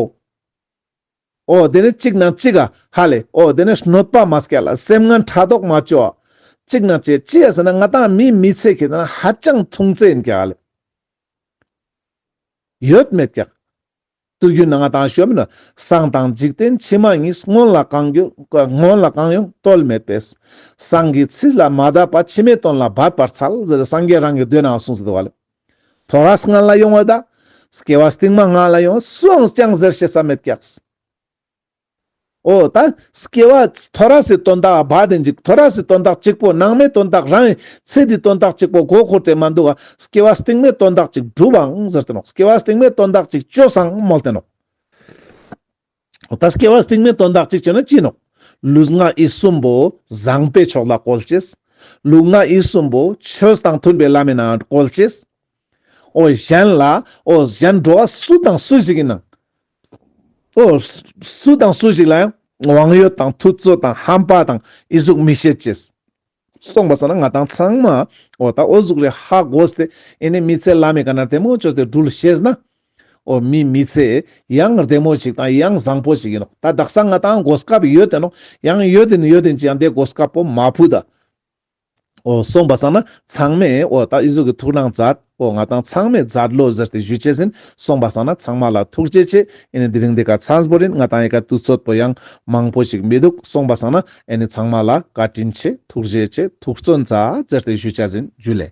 ཨོ་དེ་ནི་གཅིག་ན་གཅིག་ག་ཧ་ལས་ཨོ་དེ་ནི་གནོད་པ་མ་སྐྱེ་ལ་སེམས་ངན་ཕྲག་དོག་མ་སྐྱེ་བ། གཅིག་ན་གཅིག་ཅེས་ཟེར་ན་ང་དང་མིའི་མི་ཚེ་གི་ནང་ཧ་ཅང་མཐུང་ཚེ་འགལ། ཡོད་མེད་ཀྱང། བསྟོད་རྒྱུ་ནང་དང་ཞོལ་མེད་ན་སངས་དང་འཇིག་རྟེན་ཕྱི་མ་གཉིས་སྔོན་ལ་གང་ཡོད་སྔོན་ལ་གང་ཡོད་རྟོལ་མེད་པས། སངས་ཀྱི་ཚིག་ལ་མ་བརྡབས་པ་ཕྱི་མའི་དོན་ལ་བརྡབས་པར་འཚལ་ཟེར་སངས་རྒྱས་རང་གི་མདོའི་ནང་གསུངས་སོ། དོ་ར་སྔ་ལ་ཡོང་བ་དང། སྐྱེ་བ་སྟིང་མ་སྔ་ལ་ཡོང་བ་སུའང་ཅང་ཟེར་བྱེད་ས་མེད་ཀྱང། ཨོ་ད། སྐྱེ་བ། ཐོ་ར་སའི་དོན་དག་བ་དེ་འཇིག་ཐོ་ར་སའི་དོན་དག་གཅིག་པོ་ནང་མའི་དོན་དག་རང་ཡིན་ཚེ་དེའི་དོན་དག་གཅིག་པོ་མགོ་འཁོར་དེ་མ་འདུག་ག་སྐྱེ་བ་སྟེང་མའི་དོན་དག་ཅིག་གྲུབ་བའང་ཟེར་ཏེ་ནོ་སྐྱེ་བ་སྟེང་མའི་དོན་དག་ཅིག་བཅོས་སའང་སྨོས་ཏེ་ནོ། ཨོ་ད་སྐྱེ་བ་སྟེང་མའི་དོན་དག་ཅིག་བཅོས་ན་ཅི་ནོ། ལུས་ངག་ཡིད་གསུམ་པོ་བཟང་པོའི་ཕྱོགས་ལ་བཀོལ་ཅེས། ལུས་ངག་ཡིད་གསུམ་པོ་ཆོས་དང་མཐུན་པའི་བླ་མའི་ནང་བཀོལ་ཅེས། ཨོ་གཞན་ལ། ཨོ་གཞན་འགྲོ་བ་སུ་དང་སུ་ཞིག་ཡིན་ནམ། སུ་དང་སུ་ཞིག་ལ་ཡང་དབང་ཡོད་དང་ཐུབ་ཚོད་དང་ཧམ་པ་དང་ཨི་གཟུགས་མི་བྱེད་ཅེས་གསུངས་པ་ཟེར་ན་ང་དང་ཚང་མ་ཨོ་ད་ཨོ་གཟུགས་རེད་ཧ་གོ་སྟེ་ཨེ་ནས་མི་ཚེ་བླ་མེད་ག་ནར་དལ་མོ་བཅོས་ཏེ་སྒྲུལ་ཤེས་ན་ཨོ་མི་མི་ཚེ་ཡང་བདེ་མོ་ཞིག་དང་ཡང་བཟང་པོ་ཞིག་ཡིན་ནོ་ད་བདག་ས་ང་དང་གོ་སྐབས་ཡོད་དེ་ནོ་ཡང་ཡོད་དེ་ཡོད་དེ་ཅི་ཡང་དེ་གོ་སྐབས་པོ་མ་ཕུད་ད། ཨོ། སོང་བ་སང་ན་ཚང་མས་ཨོ། ད་ཨི་ཟུག་གི་ཐུགས་རང་མཛད། ཨོ། ང་དང་ཚང་མས་མཛད་བློ་གཟུར་ཏེ་བཞུད་བྱས་ཟིན། སོང་བ་སང་ན་ཚང་མ་ལ་ཐུགས་རྗེ་ཆེ། ཨེ་ནི་འདི་རིང་འདི་ག་ཚངས་པོ་རིན་ང་དང་ཡི་ག་དུས་ཚོད་པོ་ཡང་མང་པོ་ཞིག་མི་འདུག་སོང་བ་སང་ན་ཨེ་ནི་ཚང་མ་ལ་བཀའ་དྲིན་ཆེ་ཐུགས་རྗེ་ཆེ་ཐུགས་བརྩོན་མཛད་ཟེར་ཏེ་བཞུད་བྱས་ཟིན་རྒྱུད་ལས།